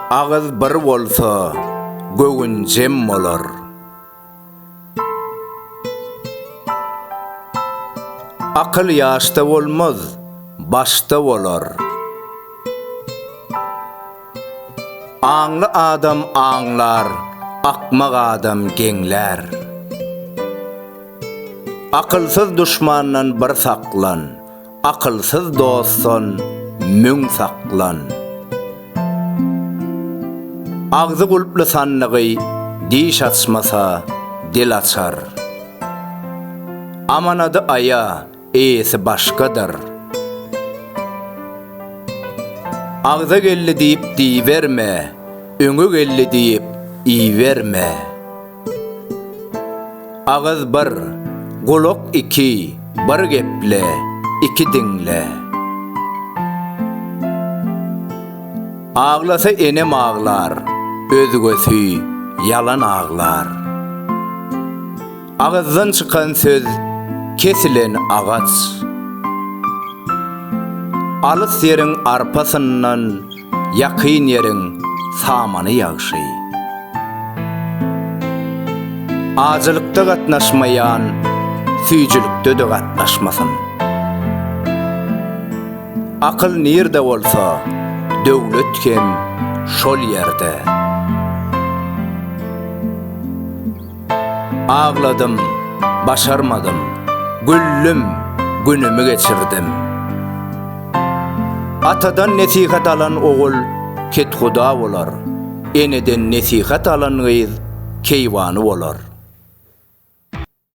Agyz bir bolsa, göwün jem bolar. Akyl ýaşda bolmaz, başda bolar. Aňly adam aňlar, akmak adam geňlär. Akylsyz duşmandan bir saklan. Akylsyz dostdan müň saklan. Agzy gulply sandygy diş açmasa, dil açar. Amanady aýa, eýesi başgadyr. Agza geldi diýip diýiberme, öňe geldi diýip iýiberme. Agyz bir, gulak iki, bir geple, iki diňle. Aglasa enem aglar, özgesi ýalan aglar. Agyzdan çykan söz, kesilen agaç. Alys ýeriň arpasyndan. Ýakyn ýeriň samany ýagşy. Ajylykda gatnaşmaýan süýjülikde-de gatnaşmasyn. Akyl nirde bolsa, döwlet hem şol ýerde. Agladym, başarmadym, güldüm, günümi geçirdim. Atadan nesihat alan ogul kethuda bolar, eneden nesihat alan gyz keýwany bolar.